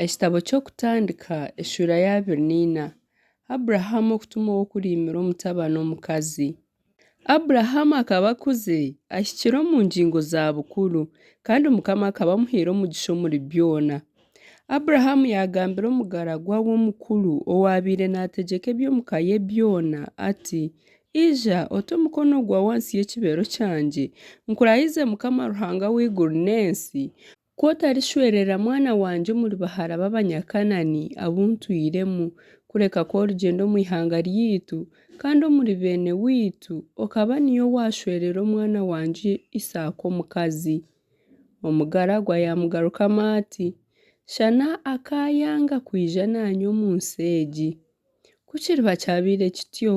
Ekitabo ky'Okutandika, eshuura ya abiri neina. Abrahamu okutuma ow'okuriimira omutabani omukazi. Abrahamu akaba akuze, ahikire omu ngingo za bukuru, kandi Mukama akaba amuhaire omugisha omuri byona. Abrahamu yaagambira omugaragwa we omukuru owaabaire naategyeka eby'omu ka ye byona ati, Ija, ote omukono gwawe ahansi y'ekibeero kyangye, nkurahize Mukama Ruhanga w'eiguru n'ensi, Ku otarishwerera mwana wangye omuri bahara b'Abanyakanani abu ntwiremu, kureka ku origyenda omu ihanga ryaitu, kandi omuri beene waitu okaba niiwe waashwerera omwana wangye Isaaka omukazi. Omugaragwa yaamugarukamu ati, Shana akaayanga kwija naanye omu nsi egi. Ku kiriba kyabaire kityo,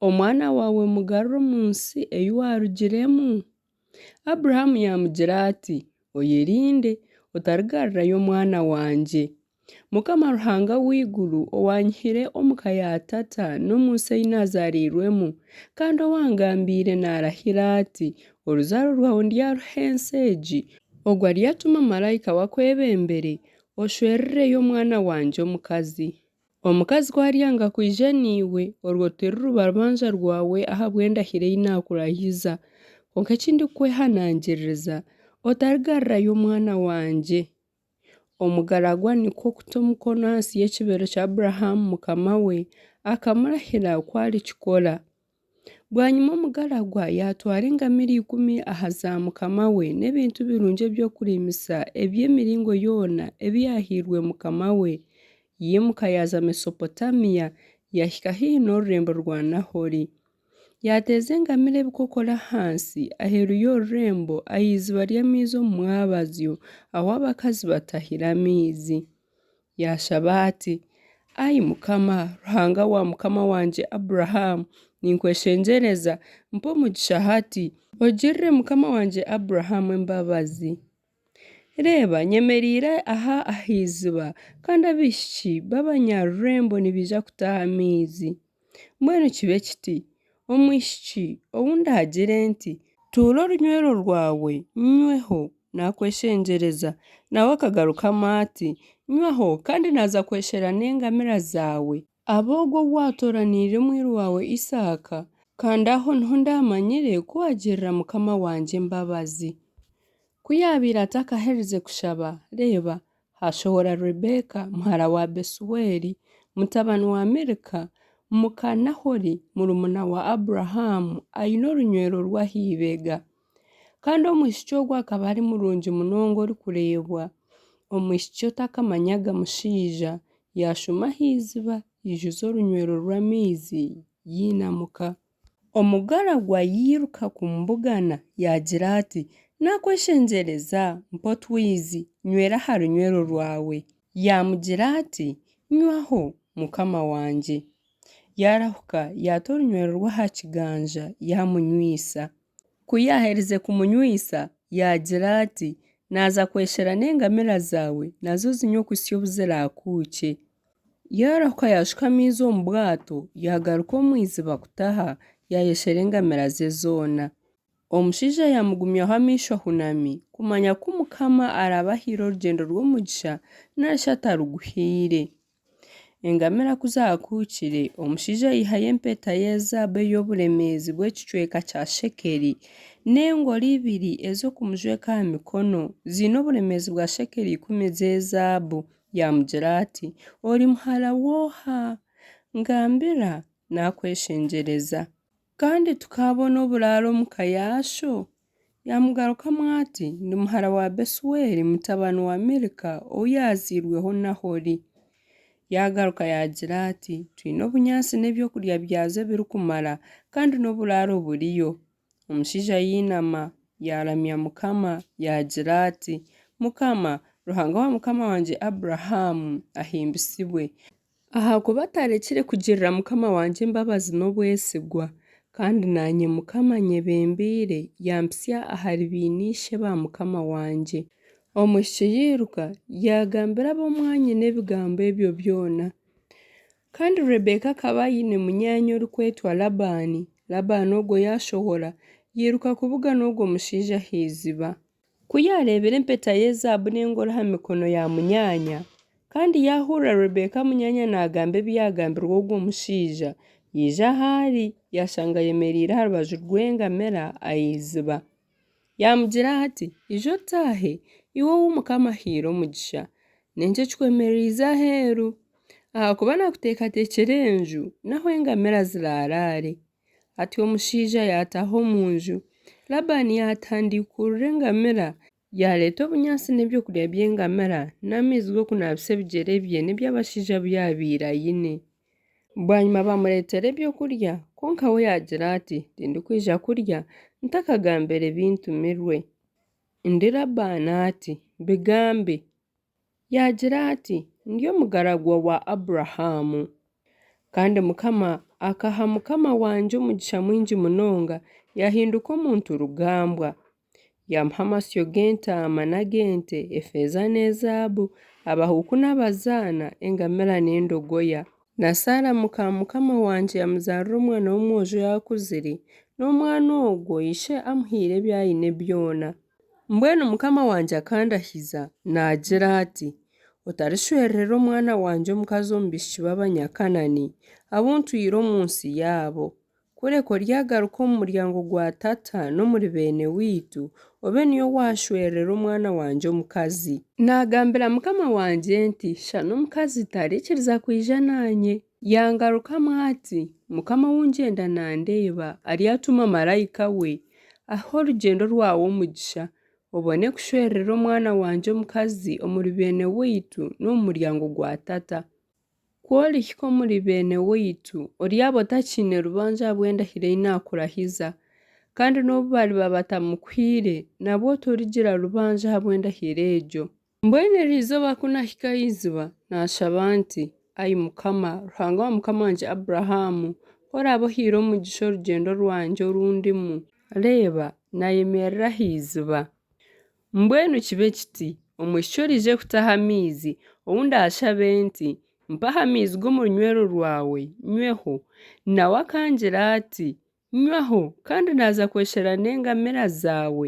omwana waawe mugarure omu nsi ei waarugiremu. Abrahamu yaamugira ati, Oyerinde, otarigarurayo omwana wangye. Mukama Ruhanga w'eiguru owaanyihire omu ka ya tata n'omu nsi ei naazaariirwemu, kandi owaangambiire naarahira ati, Oruzaaro rwawe ndyaruha ensi egi, ogwo aryatuma maraika we akwebembere, oshwerereyo omwana wangye omukazi. Omukazi ku aryanga kwija naiwe, orwo tiriruba rubanja rwawe ahabw'endahiro ei naakurahiza. Kwonka eki ndikukwehanangiririza, otarigarirayo omwana wangye. Omugaragwa nikwo kuta omukono ahansi y'ekibeere kya Abrahamu mukama we, akamurahira ku arikikora. Bwanyima omugaragwa yaatwara engamiira ikumi aha za mukama we, n'ebintu birungi eby'okuriimisa eby'emiringo yoona ebi yaahairwe mukama we. Yaimuka yaaza Mesopotaamia, yaahika haihi n'orurembo rwa Nahori. Yaateeza engamiira ebikokoro ahansi aheeru y'orurembo aha iziba ry'amaizi omu mwabazyo, ahu abakazi batahira amaizi. Yaashaba ati, Ai Mukama, Ruhanga wa mukama wangye Abrahamu, ninkweshengyereza, mpa omugisha hati, ogirire mukama wangye Abrahamu embabazi. Reeba, nyemereire aha aha iziba, kandi abaishiki b'abanyarurembo nibaija kutaaha amaizi. Mbwenu kibe kiti, omwishiki ou ndaagire nti, Tuura orunywero rwawe nyweho, naakweshengyereza, nawe akagarukamu ati, Nywaho, kandi naaza kweshera n'engamira zaawe, aba ogwo ou waatooraniire mwiru waawe Isaaka, kandi aho niho ndaamanyire ku waagirira mukama wangye embabazi. Ku yaabaire atakaherize kushaba, reeba, Haashohora Rebeeka muhara wa Besueli, mutabani wa Milika, muka Nahori, murumuna wa Abrahamu, aine orunywero rw'aha ibega. Kandi omwishiki ogwo akaba ari murungi munonga orikureebwa, omwishiki otakamanyaga mushaija, yaashuma aha iziba, yaijuza orunywero rw'amaizi, yainamuka. Omugaragwa yairuka kumubugana, yaagira ati, Naakweshengyereza, mpa otwizi, nywera aha runywero rwawe. Yaamugira ati, Nywaho, mukama wangye. Yaarahuka, yaata orunywero rwe aha kiganja, yaamunywisa. Ku yaaherize kumunywisa, yaagira ati, Naaza kweshera n'engamira zaawe, nazo zinywe okuhitsya obu ziraakuukye. Yaarehuka yaashuka amaizi omu bwato, yaagaruka omu iziba kutaha, yaayeshera engamiira ze zoona. Omushaija yaamugumyaho amaisho ahunami, kumanya ku Mukama araabe ahaire orugyendo rw'omugisha nari shi ataruguhaire. Engamiira ku zaakuhukire, omushaija yaihayo empeta ye zaabu ey'oburemeezi bw'ekicweka kya shekeli, n'engori ibiri ez'okumujweka aha mikono ziine oburemeezi bwa shekeli ikumi z'ezaabu. Yaamugira ati, Ori muhara w'oha? Ngambira naakweshengyereza. Kandi tukaabona oburaaro omu ka yaasho? Yaamugarukamu ati, Ndi muhara wa Besueli, mutabani wa Milika ou yaazairweho Nahori. Yaagaruka yaagira ati, Twine obunyaatsi n'eby'okurya byazo ebirikumara, kandi n'oburaaro buriyo. Omushaija yainama yaramya Mukama yaagira ati, Mukama, Ruhanga wa mukama wangye Abrahamu, ahimbisibwe, ahakuba atarekire kugirira mukama wangye embabazi n'obwesigwa, kandi naanye Mukama anyebembeire yaampisya ahari beene-ishe ba mukama wangye. Omwishiki yairuka yaagambira ab'omwanyina ebigambo ebyo byona. Kandi Rebeka akaba aine munyaanya orikwetwa Labaani, Labaani ogwo yaashohora, yairuka kubugana ogwo mushaija aha iziba. Ku yaareebire empeta y'ezaabu n'engoro aha mikono ya munyaanya, kandi yaahurira Rebeka munyaanya naagamba ebi yaagambirwe ogwo mushaija, yaija ahu ari, yaashanga ayemereire aha rubaju rw'engamira aha iziba. Yaamugira ati, Ija otaahe, iwe ou Mukama ahaire omugisha. N'enki ekikwemereize aheeru? Ahakuba naakuteekateekyera enju n'ahu engamira ziraaraare. Atyo omushaija yaataaha omu nju. Labani yaatandiikurura engamira, yaareeta obunyaatsi n'eby'okurya by'engamira n'amaizi g'okunaabisa ebigyere bye n'eby'abashaija abu yaabaire aine. Bwanyima baamureetera eby'okurya, kwonka we yaagira ati, Tindikwija kurya ntakagambire bintumirwe. Ndi Labaani ati, Bigambe. Yaagira ati, Ndi omugaragwa wa Abrahamu. Kandi Mukama akaha mukama wangye omugisha mwingi munonga, yahinduka omuntu rugambwa, Yaamuha amasyo g'entaama n'ag'ente, efeeza n'ezaabu, abahuuku n'abazaana, engamira n'endogoya. Na Saara muka mukama wangye yamuzaarira omwana w'omwojo yaakuzire, n'omwana ogwo ishe amuhaire ebi aine byona. Mbwenu mukama wangye akandahiza, naagira ati, Otarishwererera omwana wangye omukazi omu baishiki b'Abanyakanaani, abu ntwire omu nsi yaabo, Kureka oryagaruka omu muryango gwa tata n'omuri beene waitu, obe niyo waashwerera omwana wangye omukazi. Naagambira mukama wangye nti, Shana omukazi tarikiriza kwija naanye. Yaangarukamu ati, Mukama ou ngyenda naandeeba, aryatuma maraika we, ahe orugyendo rwawe omugisha, obone kushwerera omwana wangye omukazi omuri beene waitu n'omu muryango gwa tata. Ku orihika omuri beene waitu, oryaaba otakiine rubanju ahabw'endahiro ei naakurahiza, kandi n'obu bariba batamukuhaire, nabwo torigira rubanju ahabw'endahiro egyo. Mbwenu eryo izooba ku naahika aha iziba, naashaba nti, Ai Mukama, Ruhanga wa mukama wangye Aburahaamu, ku oraabe ohaire omugisha orugyendo rwangye oru ndimu, reeba, naayemerera aha iziba, Mbwenu kibe kiti, omwishiki oraije kutaha amaizi, ou ndaashabe nti, Mpaho amaizi g'omu runywero rwawe, nyweho. Nawe akangira ati, Nywaho, kandi naaza kweshera n'engamira zaawe,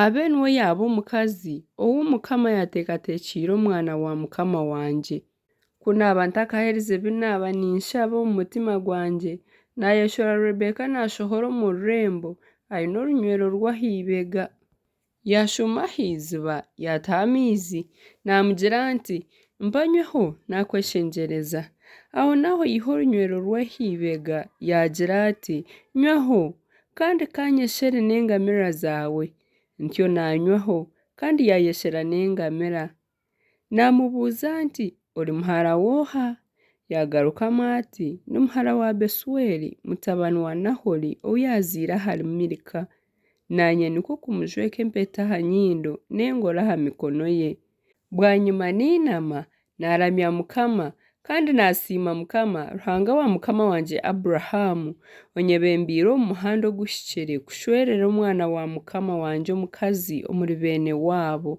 abe niwe yaaba omukazi ou Mukama yaateekateekyeire omwana wa mukama wangye. Ku naaba ntakaherize bi naaba ninshaba omu mutima gwangye, naayeshora Rebeka naashohora omu rurembo, aine orunywero rwe aha ibega. Yaashuma aha iziba, yaataho amaizi, naamugira ati, Mpa nyweho, naakweshengyereza. Ahonaaho yiha orunywero rwe aha ibega, yaagira ati, Nywaho, kandi kaanyeshere n'engamiira zaawe. Ntyo naanywaho, kandi yaayeshera n'engamiira. Naamubuuza nti, Ori muhara w'oha? Yaagarukamu ati, Ndi muhara wa Besueli, mutabani wa Nahori ou yaazaire ahari Milika. Naanye nikwo kumujweka empeta aha nyindo n'engoro aha mikono ye. Bwanyima nainama, naaramya Mukama, kandi naasiima Mukama, Ruhanga wa mukama wangye Abrahamu, onyebembeire omu muhanda oguhikire kushwerera omwana wa mukama wangye omukazi omuri beene waabo.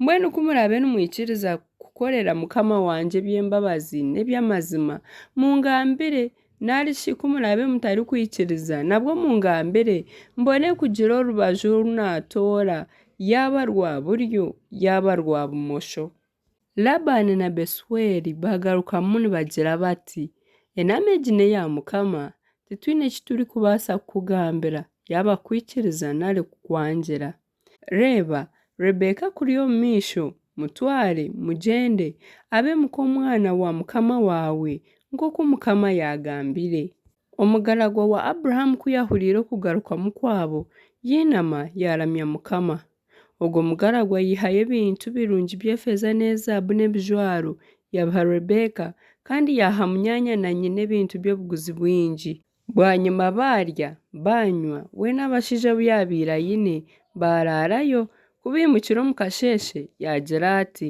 Mbwenu ku muraabe nimwikiriza kukorera mukama wangye eby'embabazi n'eby'amazima, mungambire, narishi ku muraabe mutarikwikiriza, nabwo mungambire, mbone kugira orubaju oru naatoora, yaaba rwa buryo yaaba rwa bumosho. Labani na Besueli baagarukamu nibagira bati, Enaama egi n'eya mukama, titwine eki turikubaasa kukugambira, yaaba kukwikiriza nari kukwangira. Reeba, Rebeka akuri omu maisho, mutware, mugyende, abe muka omwana wa mukama waawe, nk'oku mukama yaagambire. Omugaragwa wa Abrahamu ku yaahuriire okugarukamu kwabo, yainama, yaaramya mukama. Ogwo mugaragwa yaihayo ebintu birungi by'efeeza n'ezaabu n'ebijwaro, yabiha Rebeka, kandi yaaha munyaanya na nyina ebintu by'obuguzi bwingi. Bwanyima baarya, baanywa, we n'abashaija abu yaabaire aine baaraarayo, ku baimukire omu kasheeshe, yaagira ati,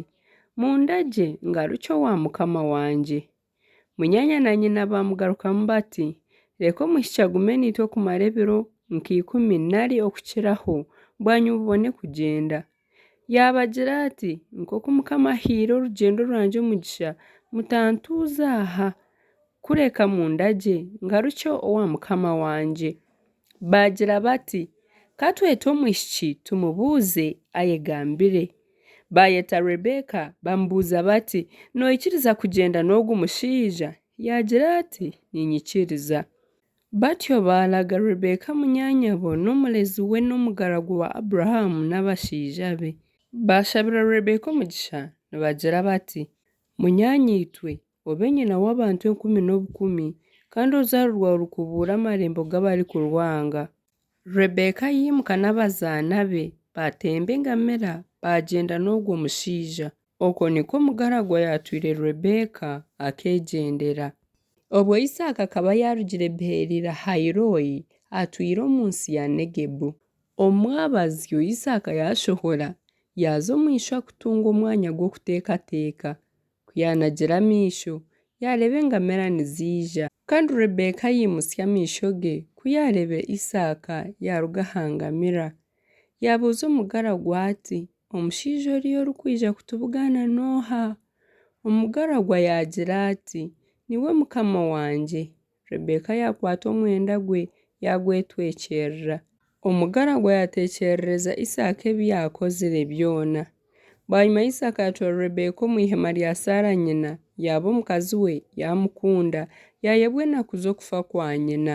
Mundagye ngarukye owa mukama wangye. Munyaanya na nyina baamugarukamu bati, Reka omwishiki agume naitwe kumara ebiro nka ikumi nari okukiraho, bwanyima obone kugyenda. Yaabagira ati, Nk'oku Mukama ahaire orugyendo rwangye omugisha, mutantuuza aha, kureka mundagye ngarukye owa mukama wangye. Baagira bati, Ka twete omwishiki tumubuuze ayegambire. Baayeta Rebeka bamubuuza bati, Noikiriza kugyenda n'ogu mushaija? Yaagira ati, Niinyikiriza. Batyo baalaga Rebeka munyaanyabo n'omurezi we n'omugaragu wa Abrahamu n'abashaija be. Baashabira Rebeka omugisha nibagira bati, Munyaanyaitwe, obe nyina w'abantu enkumi n'obukumi, kandi oruzaaro rwawe rukubuure amarembo g'abarikurwanga. Rebeka yaimuka n'abazaana be, baatemba engamira, baagyenda n'ogwo mushaija. Okwo nikwo omugaragwa yaatwire Rebeeka, akeegyendera. Obwo Isaaka akaba yaarugire Beeri-Lahai-Roi, atwire omu nsi ya Negebu. Omu mwabazyo, Isaaka yaashohora, yaaza omu ishwa kutunga omwanya gw'okuteekateeka. Ku yaanagira amaisho, yaareeba engamera niziija. Kandi Rebeeka yaimutsya amaisho ge, ku yaareeba Isaaka yaaruga aha ngamira. Yaabuuza omugaragwa ati, Omushaija oriya orikwija kutubugaana n'oha? Omugaragwa yaagira ati, Niwe mukama wangye. Rebeka yaakwata omwenda gwe, yaagwetwekyerera. Omugaragwa yaateekyerereza Isaaka ebi yaakozire byona. Bwanyima Isaaka yaatwara Rebeka omu ihema rya Saara nyina, yaaba omukazi we, yaamukunda, yaayebwa enaku z'okufa kwa nyina.